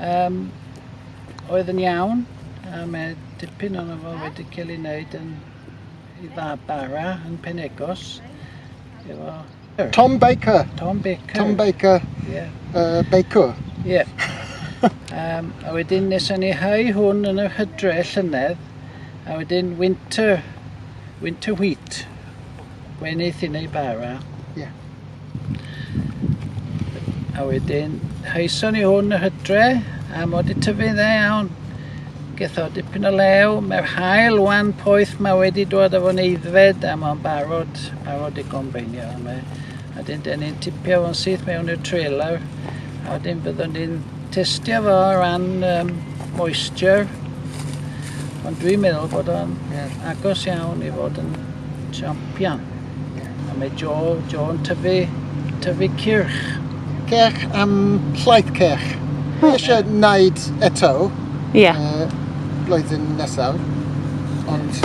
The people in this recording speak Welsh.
Yym, oedd yn iawn, a mae dipyn o'n fo wedi cael ei wneud yn i dda bara yn Penegos. Efo... Tom Baker. Tom Baker. Tom Baker. Yeah. Uh, Baker. Yeah. um, a wedyn nes o'n i hau hwn yn yr hydre llynedd, a wedyn winter, winter wheat. Mae'n neis i neud bara. Ie. A wedyn, haeson ni hwn yr hydre, a mod i tyfu dda iawn. Geth o dipyn o lew, mae'r hael wan poeth ma wedi dod â fo'n eiddfed a mae'n barod, barod i gombeinio yma. A dyn, dyn ni'n tipio fo'n syth mewn i'r trailer, a wedyn byddwn ni'n Testio fo o ran um, moisture, ond dwi'n meddwl bod o'n yeah. agos iawn i fod yn champion. Yeah. A mae Joe, Joe yn tyfu, tyfu cyrch. Cyrch am llaeth cyrch. Mae eisiau wneud eto. Ie. Yeah. Uh, blwyddyn nesaf. Ond